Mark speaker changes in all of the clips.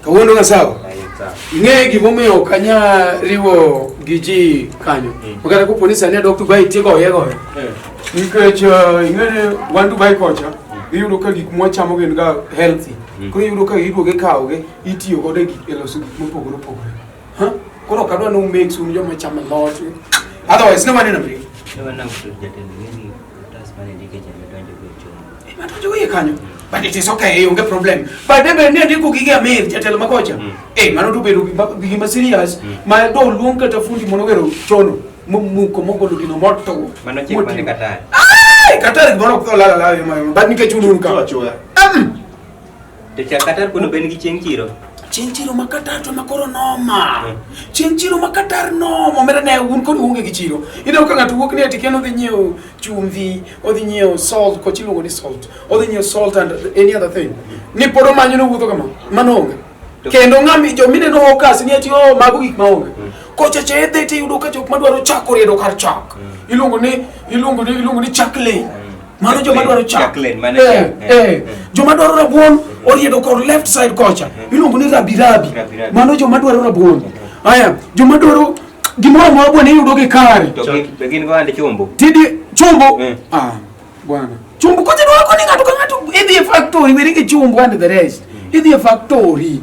Speaker 1: Kawuono ka sawa? Ing'e gimomiyo ok anyal riwo gi ji kanyo. Mm. Makata kopo ni sani adok Dubai tiego oye goyo. Eh. Nikech uh, ing'e wan Dubai kocha mm. iyudo ka gik mwachamo gin ga healthy. Mm. Koro iyudo ka iduoge kawoge itiyo godo e loso gik mopogore opogore. Koro kadwa ni umake sure joma chamo lot. Otherwise no waneno mri. No waneno mri jatend gini tas mane ndike jame donjo go chon. Eh, ma donjo go kanyo. But it is okay, onge problem. But debe ne ndiko gige amir jatelo makocha. Mm. Eh, mano to bedo gige ma serious. Mm. Ma do luong kata fundi mono gero chono. Muko mogolo gino moto. Mano chik mane kata. Ai, kata gimoro ko la la la. But nikech unu ka. Choya.
Speaker 2: To cha Qatar kuno ben gi chieng' chiro. Chieng' chiro ma
Speaker 1: Qatar to ma koro noma. Hmm. Chieng' chiro ma Qatar noma. Omera ne un kod unge gi chiro. Ina ka ng'ato wuok ni ati keno dhi nyiewo chumvi, odhi nyiewo salt, ko chiluongo ni salt. Odhi nyiewo salt and any other thing. Ni pod omanyo no wuotho kama. Mano onge. Kendo ng'ami jo mine no hokas ni ati o oh, mago gik ma onge. Hmm. Kocha che dhi ti yudo ka jok madwaro chako riedo kar chak. Hmm. Iluongo ni iluongo ni iluongo ni chak lane. mano joma dwaro chak eh, eh, eh. joma dwaro rabuon oriedo kor left side kocha iluongo ni rabirabi mano joma dwaro rabuon aya joma dwaro gimoro amora bwana iyudo gi kare
Speaker 2: tidi chumbo
Speaker 1: ah, bwana chumbo kocha dwako ni ng'ato ka ng'ato idhi e factory weri gi chumbo and the rest idhi e factory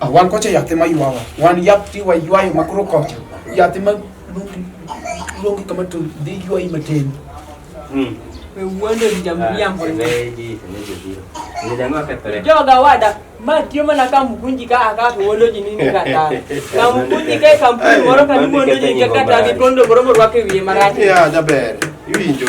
Speaker 1: Ah, wan kocha yathi ma ywawa wan yath tiwa ywayo makoro kocha yathi ma luongi kama to dhi ywayi matin
Speaker 3: hmm. joga wada ma tiyo mana ka mkunji ka aka wolo ji nini kata ka mkunji ka kampuni moro ka ni mondo ji kata ni kondo moro moro wake wiye marati ya jaber
Speaker 4: iwinjo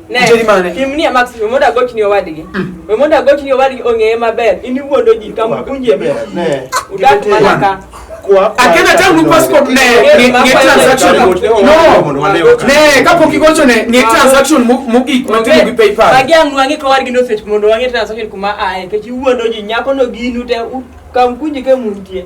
Speaker 3: Nitie mane? Tim ni Max, we mondo agochni owadgi. Mm. We mondo agochni owadgi ong'eye maber. In iwuondo ji kama ukunje be. Udak mana ka. Akenda tangu passport ne ne transaction. No. Ne kapok igocho ne ne transaction mogik matimo gi PayPal. Magi ang' wang'i ka wargi no search mondo wang'i transaction kuma ae. Kech iwuondo ji nyako no ginu te kam kunje ke muntie.